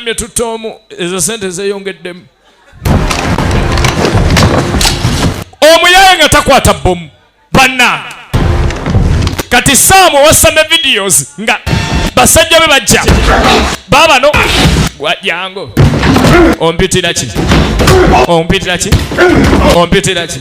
Yagambye tutta omu, ezo sente zeeyongeddemu. Omuyaaye nga takwata bbomu banna kati saamu owassa ne videos nga basajja be bajja baabano wajango ompitiraki ompitiraki ompitiraki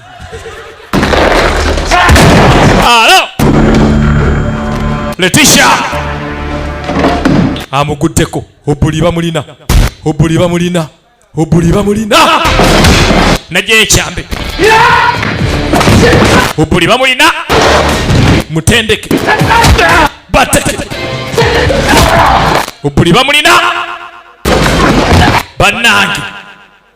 Alo! Leticia! Amuguddeko. Obuli bamulina. Obuli bamulina. Obuli bamulina. Naje ekyambe. Obuli bamulina. Mutendeke. Bateke. Obuli bamulina. Banange.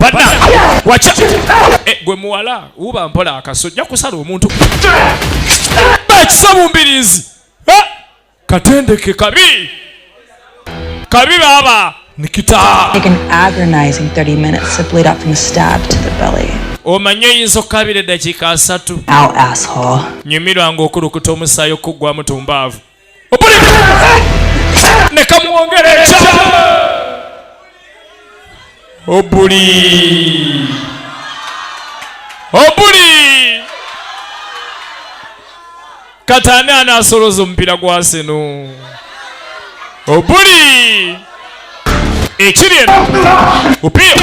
bana wacha eh, gwe muwala uba mpola akaso ja kusala omuntu bakisabu mbirizi eh? katendeke kabi kabi baba nikita taken agonizing 30 minutes to bleed up from a stab to the belly omanyi oyinza okukabira eddakiika asatu nyumirwa ng'okulukuta omusaayi okuggwamu tumbaavu nekamuwongere ekya obuli obuli kati ani anasoloza omupiira gwa sino obuli ekiri eno upiira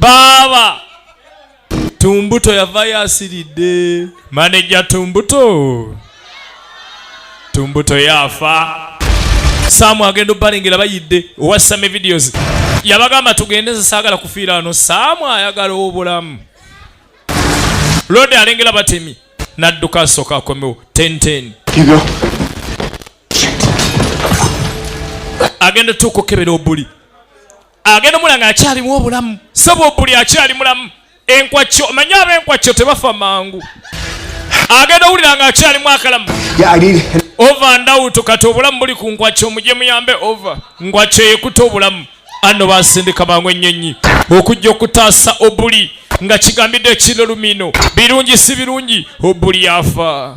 baaba tumbuto yavayo asiridde maneja tumbuto tumbuto yaafa saamu agenda obalengera bayidde owa same videos yabagamba tugende nze saagala kufiira ano saamu ayagala obulamu lode alengera batemi nadduka asooka akomewo tenten agenda tuuka okukebera obuli agenda omula nga akyalimu obulamu saba obuli akyali mulamu enkwakyo omanyi aba enkwakyo tebafa mangu agenda owulira nga akyalimu akalamu ova ndawuto kati obulamu buli ku nkwakyo muje muyambe ova nkwakyo yekuta obulamu anno basindika mangu ennyonyi okujja okutaasa obuli nga kigambidde ekirolumino birungi si birungi obuli yafa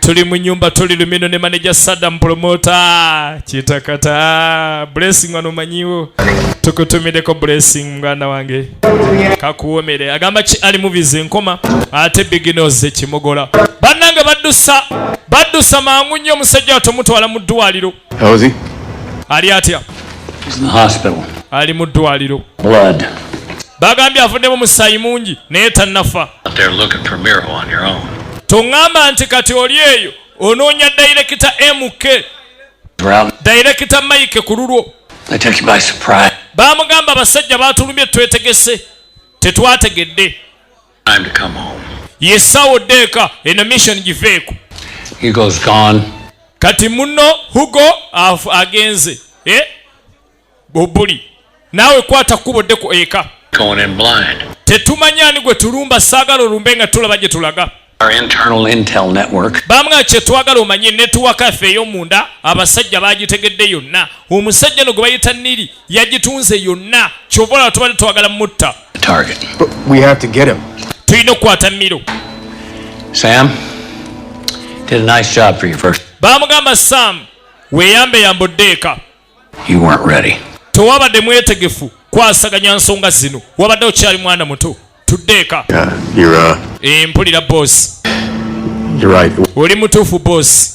tuli mu nyumba tuli lumino ne manager sadam promota kitakata blessing wano manyiwo tukutumideko blessing mwana wange kakuwomere agamba ki ali movies enkoma ate beginners ekimogola bannange baddusa baddusa mangu nnyo omusajja watomutwala mu ddwaliro How is he? Ali atya? He's in the hospital. Ali mu ddwaliro. Blood. Bagambye avuddemu musaayi mungi naye tannafa. Tongamba nti kati oli eyo onoonya dayirekita MK. Dayirekita Mike ku lulwo. Baamugamba abasajja baatulumbye twetegese tetwategedde. and come home. Yesawo deka eno mission giveeko. He goes gone. Kati muno Hugo afu agenze. Eh? Bobuli. Nawe kwata kubo deko eka. Going in blind. Tetumanya ni gwe tulumba sagala olumbe nga tulaba gye tulaga. Our internal intel network. Bamwa kye twagala omanye network affe yo munda abasajja bagitegedde yonna. Omusajja no gwe bayita Nili yagitunze yonna. Kyobola tubadde twagala mutta. tulina okukwata miro baamugamba sam weyambe yamba oddeeka tewabadde mwetegefu kwasaganya nsonga zino wabadde okyali mwana muto tuddeeka uh, uh, eh, mpulira bosi oli mutuufu bosi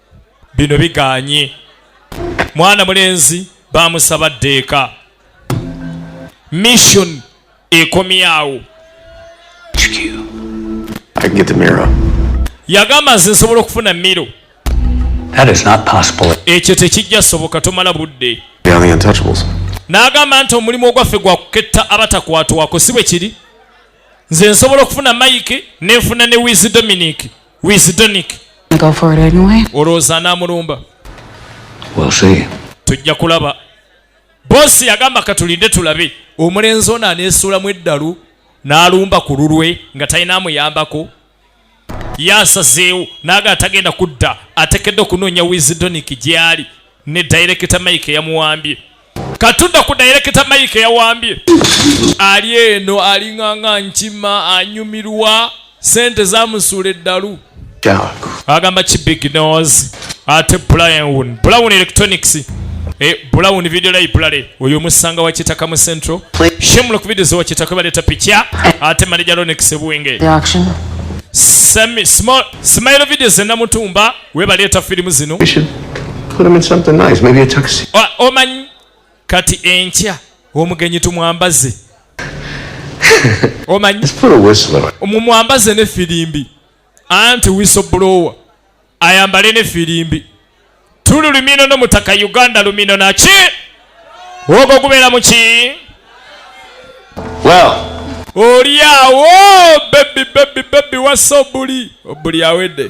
bino biganye mwana mulenzi bamusaba ddeeka mission ekomyawo yagamba nze nsobola okufuna miro ekyo tekijja soboka tomala budde n'agamba nti omulimu ogwaffe gwa kuketta abatakwatwako si bwe kiri nze nsobola okufuna mayike nenfuna ne wizi dominic wisdonic olowooza anamulumba tujja kulaba boosi yagamba katulinde tulabe omulenzi ono aneesuulamu eddalu n'alumba ku lulwe nga talina amuyambako yasazeewo naaga atagenda kudda atekedde okunoonya wisdonic gy'ali ne dayirekita mike yamuwambye katunda ku dayirekita mike yawambye ali eno alinganga nkima anyumirwa sente zamusuula eddalu agamba ki big nos ate brown brown electronics Eh, bulawu ni video lay bulale oyo musanga wa kitaka mu central shemula ku video zo kitaka bale ta picha ate manager ronex buwenge smile video zenda mutumba webaleeta firimu zino omanyi kati enkya omugenyi tumwambaze omanyi mumwambaze ne firimbi anti wisoblower ayambale ne firimbi tuli lumino no mutaka uganda lumino naki ogwo gubeera muki olyawo bebi bebi bebi wasobuli obuli awedde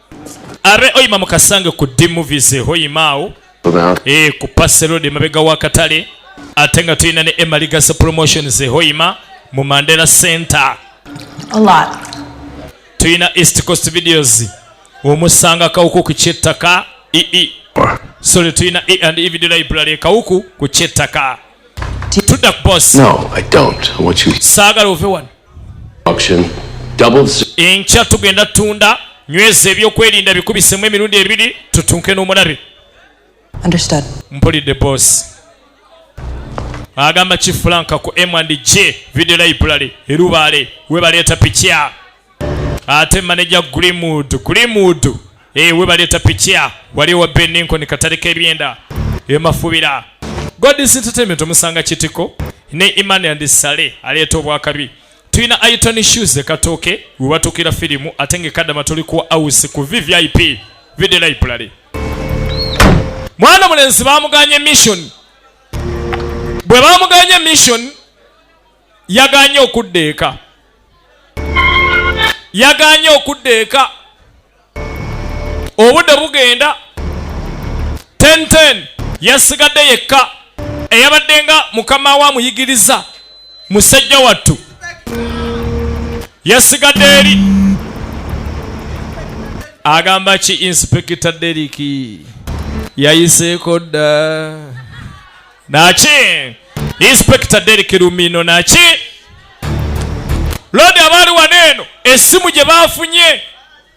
are oyima mukasange ku d movies hoyimaawo e, eh, ku paserod emabega wakatale ate nga tulina ne emaligasa promotions hoyima mu mandela center tulina east coast videos omusanga kawuku ku kyettaka ii e e. sole tulina e and e video library kawuku ku kyettaka tudda ku bosi saagala ove wano enkya tugenda tunda nyweza ebyokwerinda bikubisemu emirundi ebiri tutunke n'omulabe mpulidde bosi agamba kifulanka ku m and j video library erubaale webaleeta pikya ate maneja Greenwood Greenwood eh we baleta pikia wali wa Ben Lincoln katale kebyenda emafubira God is entertainment omusanga kitiko ne Imani and Sale aleta obwakabi tulina Aiton Shoes katoke webatukira filimu ate ngekadama tuli ku house ku VVIP video library mwana mulenzi bamuganye mission bwe bamuganye mission yaganye okudda eka yaganye okudda eka obudde bugenda tenten yasigadde yekka eyabadde nga mukama we amuyigiriza musajja wattu yasigadde eri agamba ki inspekita deriki yayiseeko dda naki inspector Derek Lumino naki lodi abaali wano eno essimu gye baafunye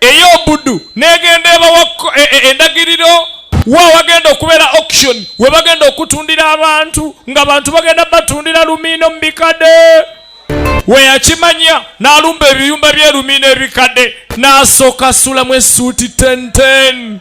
ey'obudu n'egenda ebawa e, e, endagiriro wa wagenda okubeera auction we bagenda okutundira abantu nga bantu bagenda batundira lumiino mu bikadde we yakimanya n'alumba ebiyumba by'erumiino ebikadde n'asooka asulamu essuuti tenten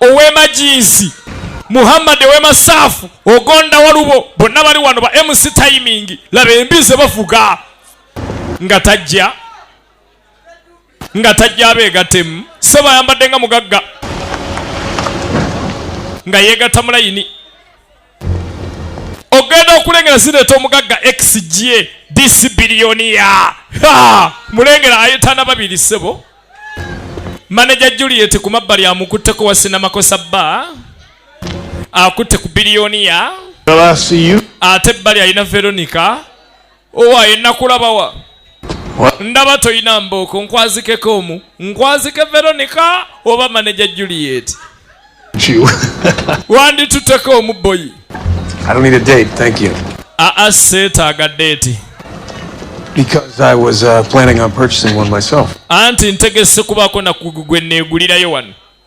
ow'emajiizi muhammad ow'emasaafu ogonda walubo bonna bali wano ba mc timing laba embi ze bavuga nga tajja nga tajja abeegatemu sebo ayambadde nga mugagga nga yeegatta mulayini ogenda okulengera zireeta omugagga xg disi biliyoniya mulengera ayetana babiri ssebo maneja juliet ku mabbali amukutteko wasinamakosa bba akutte ku biliyoniya ate ebbali alina veronica owaye nakulabawa ndaba toyina mbooko nkwazikeko omu nkwazike veronica oba maneja juliet wandituteko omu boyi aa seetaaga deeti Because I was uh, planning on purchasing one myself. Anti ntegese kubaako na kugwe neegulirayo wano.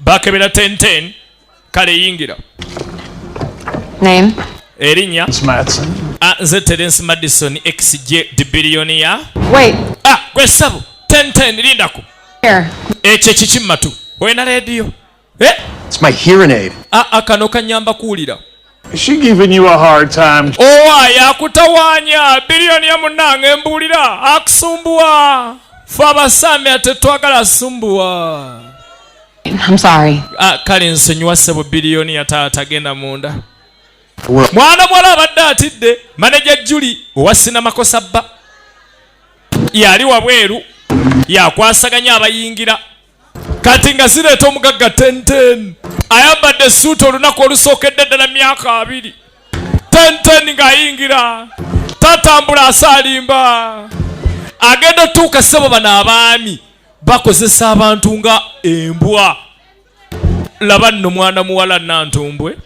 bakebera tenten kale yingira name erinya ah, nze terence madison xj dibilioniya ah, gwe sabu tenten lindako ekyo ekiki mumatu olina rediyo eh? akano ah, kanyamba kuwulira She giving you a hard time. Owa yakutawanya billion ya munange mbulira akusumbuwa. Fa basame atetwagala sumbuwa. I'm sorry. Ah, kale nsonyiwa sebo billion ya taata genda munda. Mwana mwala abadde atidde manager Julie owa sinama kosabba. Yali wabweru yakwasaganya abayingira kati nga zireeta omugagga tenten ayambadde esuuti olunaku olusookedde ddala myaka abiri tenten ng'ayingira tatambula asaalimba agenda otuuka sebo bano abaami bakozesa abantu nga embwa laba nno mwana muwala nantumbwe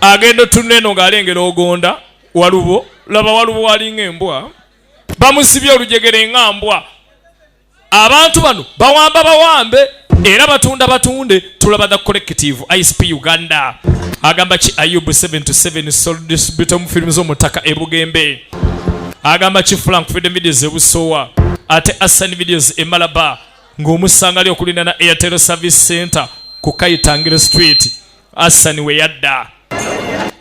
agenda otunula eno ng'alengera ogonda walubo laba walubo walinga embwa bamusibye olujegere nga mbwa abantu bano bawamba bawambe era batunda batunde tulaba the collective isp uganda agamba ki ayub 77 soldisbutom firimu z'omutaka ebugembe agamba ki frank freedom videos ebusowa ate assan videos emalaba ng'omusanga ali okulina na airtel service center ku kayitangiro street Asani we yadda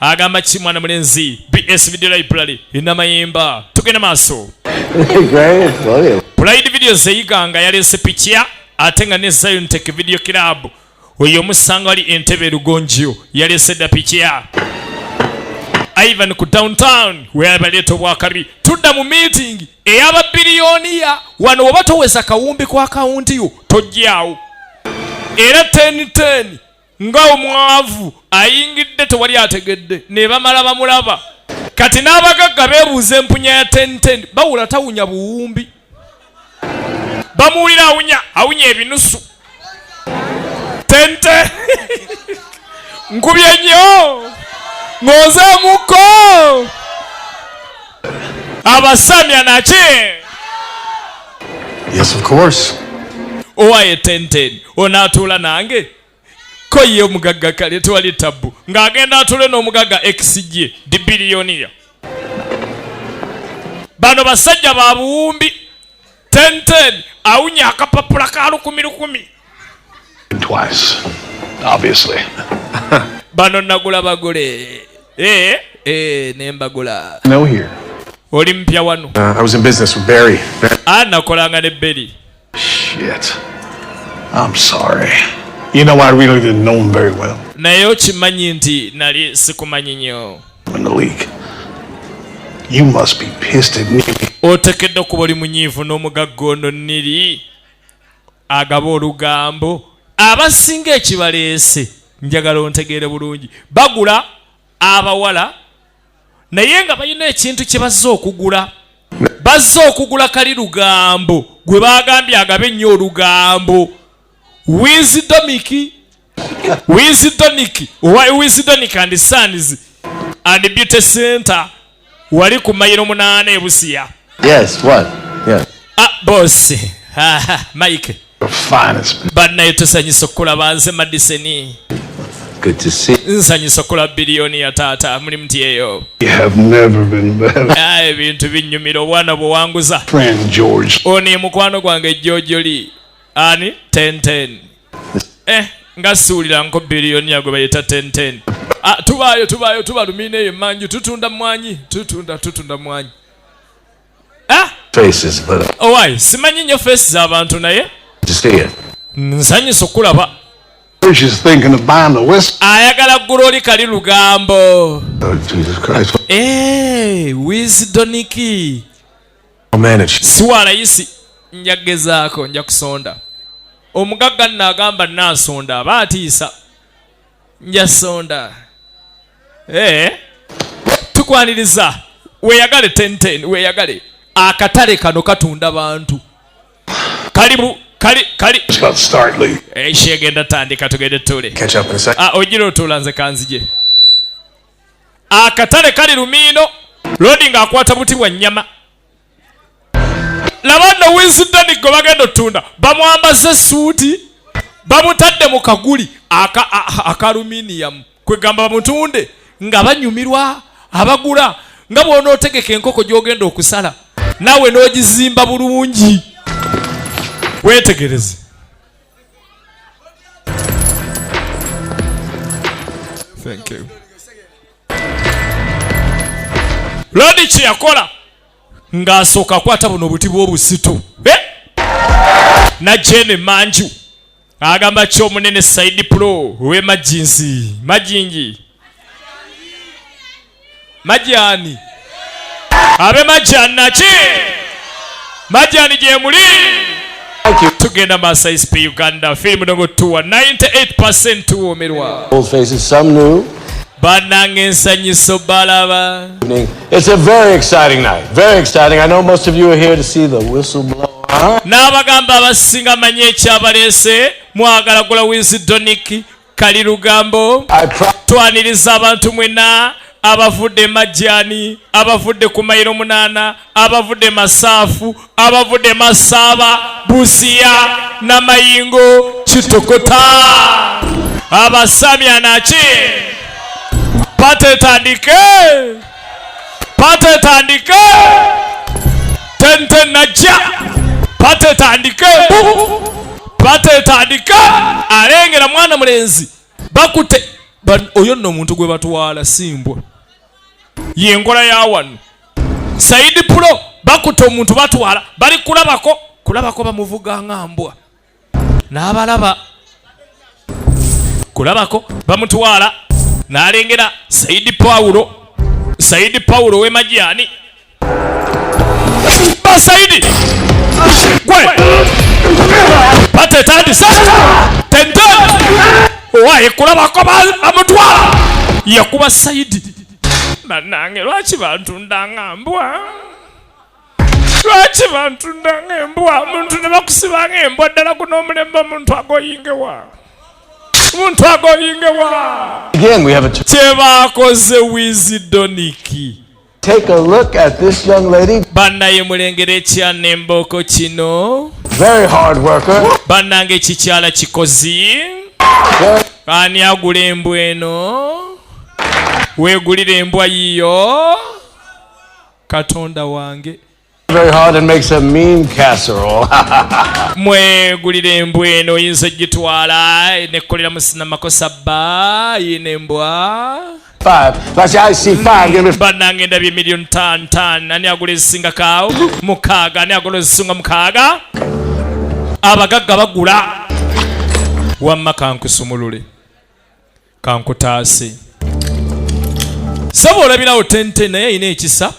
agamba ki mwana mulenzi bs video library erina mayemba tugenda maaso pride video zeyiga nga yaleese pikiya ate nga ne zion tech video club oyo omusanga wali entebe lugonjio yaleese dda pikiya ivan ku downtown weyabaleeta obwakabi tudda mu meeting eyababiliyoniya wano oba toweza kawumbi kwa kawunti yo tojjawo era 1010 nga omwavu ayingidde tewali ategedde nebamala bamulaba kati n'abagagga beebuuza empunya ya tenten bawula tawunya buwumbi bamuwulira awunya awunya ebinusu tente nkubye nnyo ng'ozeemuko abasamya naki yes of course owaye tenten onaatuula nange ko ye omugagga kale tewali tabbu ng'agenda atule n'omugagga exje di biliyoniya bano basajja ba buwumbi tenten awunya akapapula ka lukumi lukumi bano nagula bagule ee eh, ee eh, nembagula oli mpya wano uh, ah, nakolanga ne beri Shit. I'm sorry. You know, I really didn't know him very well. naye okimanyi nti nali sikumanyi nnyo otekedde okuba oli munyiivu n'omugagga ono niri agaba olugambo abasinga ekibaleese njagala ontegeere bulungi bagula abawala naye nga balina ekintu kye bazze okugula bazze okugula kali lugambo gwe bagambye agabe ennyo olugambo wizidomiki wizidoniki owa wizidonik and sons and beauty center wali ku mayiro munaana ebusiya yes, what? Yes. Ah, bosi mike bannaye tusanyusa okukulaba nze madiseni nsanyusa okulaba biliyoni ya taata muli muti eyo ah, ebintu binyumira obwana bwewanguza ono ye mukwano gwange jojoli ani tenten eh, nga siwulira nko biliyoni yagwe bayita tenten ah, tubaayo tubaayo tubalumina eyo emanju tutunda mwanyi tutunda tutunda mwanyi owaye oh, simanyi nnyo feesi z'abantu naye nsanyusa okulaba ayagala ggula oli kali lugambo oh, eh, wisidoniki siwalayisi nja kugezaako nja kusonda omugagga nno agamba naasonda aba atiisa njasonda hey. Eh? tukwaniriza weyagale tenten weyagale akatale kano katunda bantu kalibu kali kali ekyegenda eh, tandika tugende tule ah, ogira otula nze kanzije akatale kali lumiino lodi ng'akwata buti bwa nnyama laba nno winsitoni gwe bagenda otunda bamwambaze esuuti bamutadde mu kaguli akaluminiyamu kwegamba bamutunde nga banyumirwa abagula nga bwonootegeka enkoko gyogenda okusala naawe n'ogizimba bulungi wetegereze Thank you. lodi kyeyakola ng'asooka akwata buno obuti bw'obuzito eh? najjeeno emanju agamba ki omunene saidi pulo owe majinsi majingi majani abe majjani naki majjani gyemuli tugenda maaso isp uganda firimu nogo tuwa 98 tuwoomerwa bananga ensanyiso balaba n'abagamba abasinga manyi ekyabaleese mwagala gula wizi doniki kali lugambo twaniriza abantu mwena abavudde majjani abavudde ku mayiro munaana abavudde masaafu abavudde masaaba busiya namayingo kitokota abasamya naki patetandike pate etandike tente najja pate etandike bu pate etandike alengera mwana mulenzi bakute oyo nno omuntu gwe batwala simbwa yenkola ya wano saidi pulo bakute omuntu batwala bali kulabako kulabako bamuvuga nga mbwa n'abalaba kulabako bamutwala n'alengera sayidi pawulo sayidi pawulo w'emajyani basayidi gwe batetandisa tente owaye kulabako bamutwala yakuba sayidi banange lwaki bantundanga mbwa lwaki bantunda ng'embwa omuntu ne bakusiba ng'embwa ddala guno omulembe omuntu agoyingewa omuntu agoyingewa kyebaakoze wizidoniki Take a look at this young lady. Banaye mulengere ekyana embooko kino. Very hard worker. Banange ekikyala kikozi. Ani agula embwa eno? Weegulira embwa yiyo. katonda wange mwegulira embwa eno oyinza ogitwala nekolera musina makosa bba yina embwa banange ndabye emiliyoni tan tan ani agula ezisinga kaawo mukaaga ani agula ezisinga mukaaga abagagga bagula wamma kankusumulule kankutaase sebo olabirawo tenten naye ayina ekisa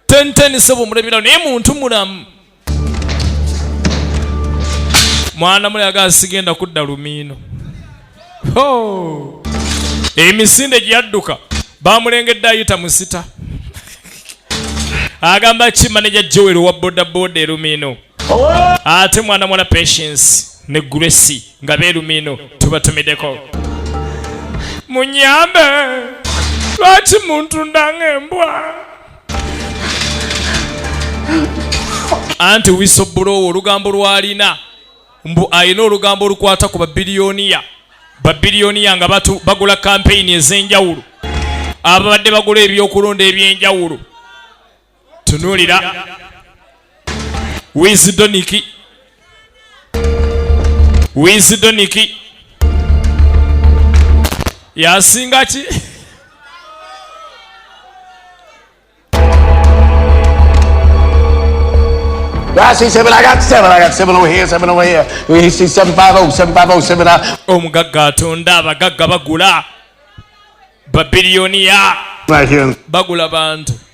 tenten sebo omulabirawo naye muntu mulamu mwana mulaga sigenda kudda lumiino emisinde gyeyadduka bamulengedde ayita musita agamba ki maneja joel wa bodaboda erumiino ate mwana mwana patience ne grace nga beerumino tubatumideko munyambe lwaki muntu ndanga embwa anti wisobuloowo olugambo lwalina mbu alina olugambo olukwata ku babiliyoniya babiliyoniya nga bagula kampeyini ez'enjawulo ababadde bagula ebyokulonda eby'enjawulo tunuulira wizidoniki wizidoniki yasinga ki omugagga atonda abagagga bagula babiliyoniya bagula bantu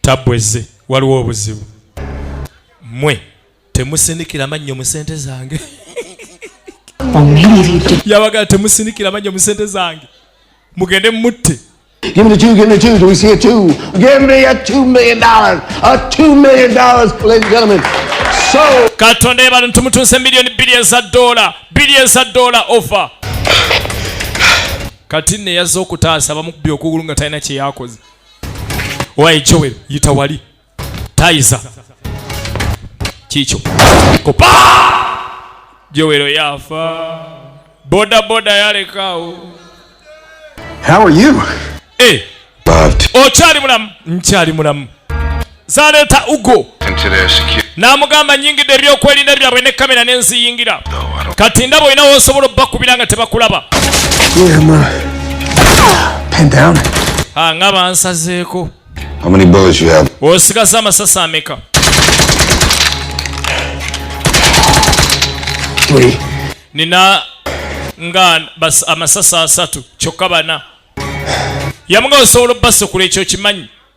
tabweze waliwo obuzibu mwe temusinikira mannyo mu sente zange yabagala temusinikira mannyo mu sente zange mugende mutte Give me the two, give me the two. Do we see a two? Give me a two million dollars. A two million dollars, ladies and gentlemen. So. Katonda yebale ntumutunse milioni bbiri eza dola bbiri eza dola ofa kati neyazza okutaasa bamukubye okugulu nga talina kyeyakoze Owaye Joel yita wali tayiza kikyo kupa Joel oyafa boda boda yalekaawo How are you? Eh, okyali mulamu nkyali mulamu zaleeta ugo n'amugamba nyingidde ebyokwerinda byabwe ne kamera ne nziyingira kati ndaba olina wosobola obubakubira nga tebakulaba ah, nga bansazeeko osigaza amasasi ameka nina nga amasasi asatu kyokka bana yamuga osobola obubasukula ekyo kimanyi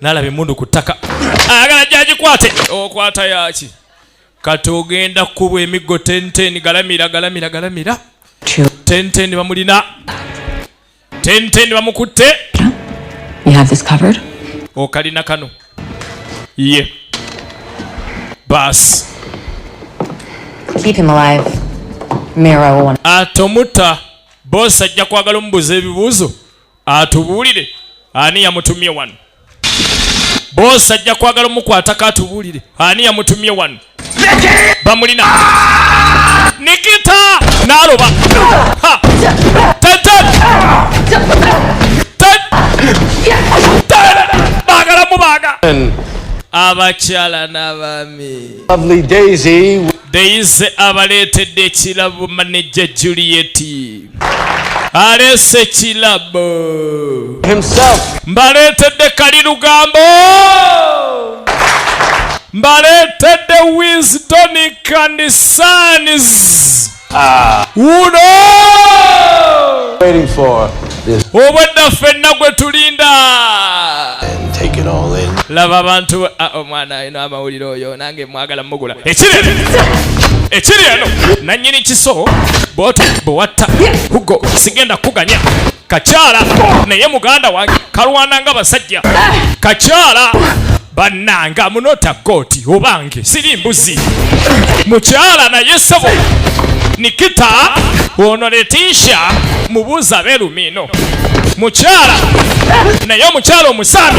nalaba emundu ku ttaka ayagala gyagikwate okwata oh, yaki kati ogenda kukubwa emiggo tenten galamira galamira galamira tenten bamulina tenten bamukutte okalina kano ye baasi atomutta bosi ajja kwagala omubuuza ebibuuzo atubuulire ani yamutumye wano boosi ajja kwagala omukwatako atubuulire ani yamutumye wano bamulina nikita naloba bagala mubaga abakyala n'abaami Deyize abaleetedde ekirabo manejja Juliet aleese ekirabo mbaleetedde kali lugambo mbaleetedde wisdoni kanisanis ah. uno obwedda ffenna gwe tulinda laba abantu ah, omwana no amawulire oyo nange mwagala mugula ekiri ekiri eno nanyini kiso bwoto bwewatta hugo sigenda kuganya kakyala naye muganda wange kalwana nga basajja kakyala bannange amunota kooti obange siri mbuzi mukyala naye sebo nikita ono letisha mubuuza belumino mukyala naye omukyala omusaana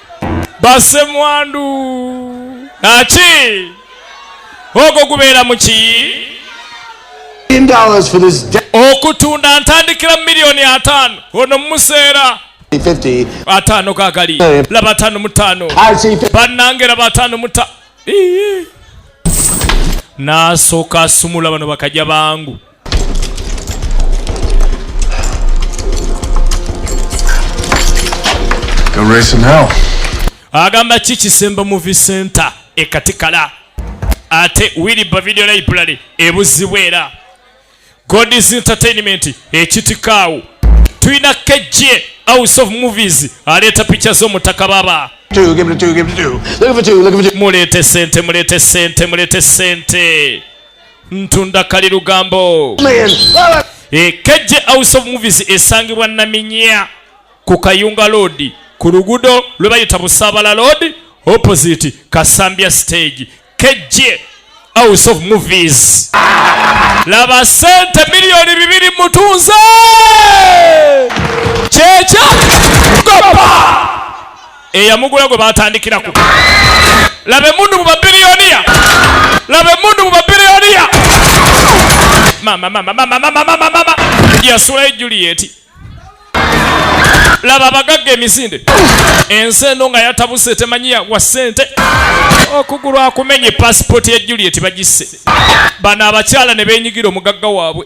basemwandu naki ogwo gubeera mu kiyi okutunda ntandikira mu miliyoni ataano ono mumuseera ataano gagali laba ataano mutaano bannange laba ataano muta nasooka asumula bano bakajja bangu agamba ki kisemba muvi center ekatikala ate wiliba video library ebuzibwa era godis entertainment ekitikaawo tulina kejje house of movies aleeta picha z'omutaka baba muleete sente muleete sente muleete sente ntunda kali lugambo ekejje eh, house of movies esangibwa naminya ku kayunga loodi ku lugudo lwe bayita busaabala loodi opposite kasambya stage kejje house of movies laba sente miliyoni bibiri mutunze kyekya gopa eyamugula gwe batandikirako laba emundu mu babiliyoniya laba emundu mu babiliyoniya yasulayo julieti laba abagagga emisinde ensi eno nga yatabuse temanyiya wa sente okugulu akumenye pasipoti ya julieti bagisse bano abakyala ne benyigira omugagga waabwe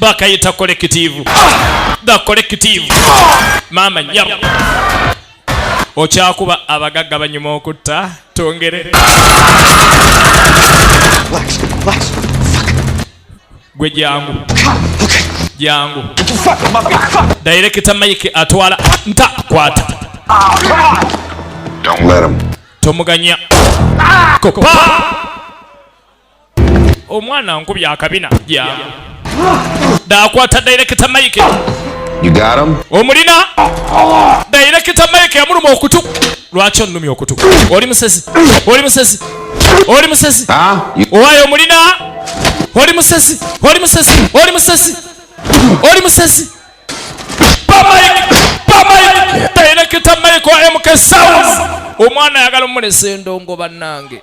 bakayita kolekitivu the kolekitivu maama nyabo okyakuba abagagga banyuma okutta tongere gwe jangu jangu dayirekita mike atwala nta kwata tomuganya kopa omwana nkubya akabina yeah. dakwata dairekita mike omulina dairekita mike yamuluma okutu lwaki onumya okutu oli musezi oli musezi oli musezi ah, owayo omulina oli musezi oli musezi oli musezi oli musezi dairekita mike wa mk sounds omwana ayagala omulesa endongo bannange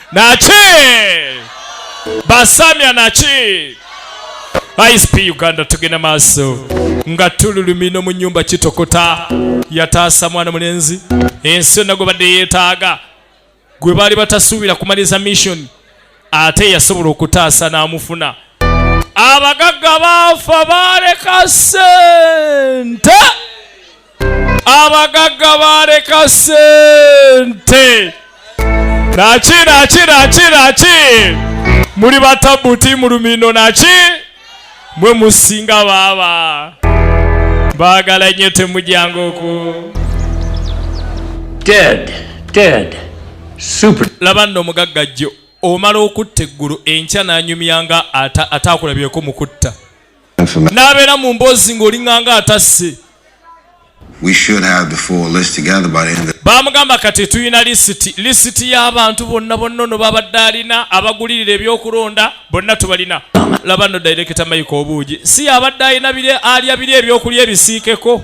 naki basamya naki isp uganda tugenda maaso nga tululumino mu nyumba kitokota yataasa mwana mulenzi ensi yonna gwe badde yeetaaga gwe baali batasuubira kumaliza mission ate yasobola okutaasa n'amufuna abagagga baafa baaleka sente abagagga baaleka sente naki naki naki naki muli batabuti mu lumino naki mwe musinga baaba baagala nnyo temujangoko laba nno omugagga jjo omala okutta eggulu enkya n'anyumya nga ataakulabyeko mu kutta n'abeera mu mboozi ng'olinganga atasse baamugamba kati tulina lisiti lisiti y'abantu bonna bonna ono babadde alina abagulirira ebyokulonda bonna tubalina laba no dairekita mayika obuugi si yabadde alina alya biri ebyokulya ebisiikeko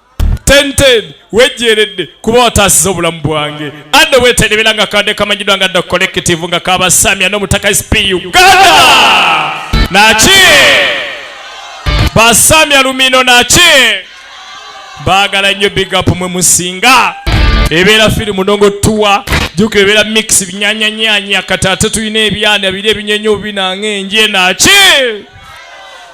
tenten wejjeeredde kuba wataasiza obulamu bwange adde weterebera nga kadde kamanyidwa nga dda collective nga kabasamya n'omutaka sp uganda naki basamya lumino naki baagala nnyo big up mwe musinga ebeera firi munongo tuwa juka ebeera mix binyanyanyanya kati ate tulina ebyana biri ebinyenya obinanga enje naki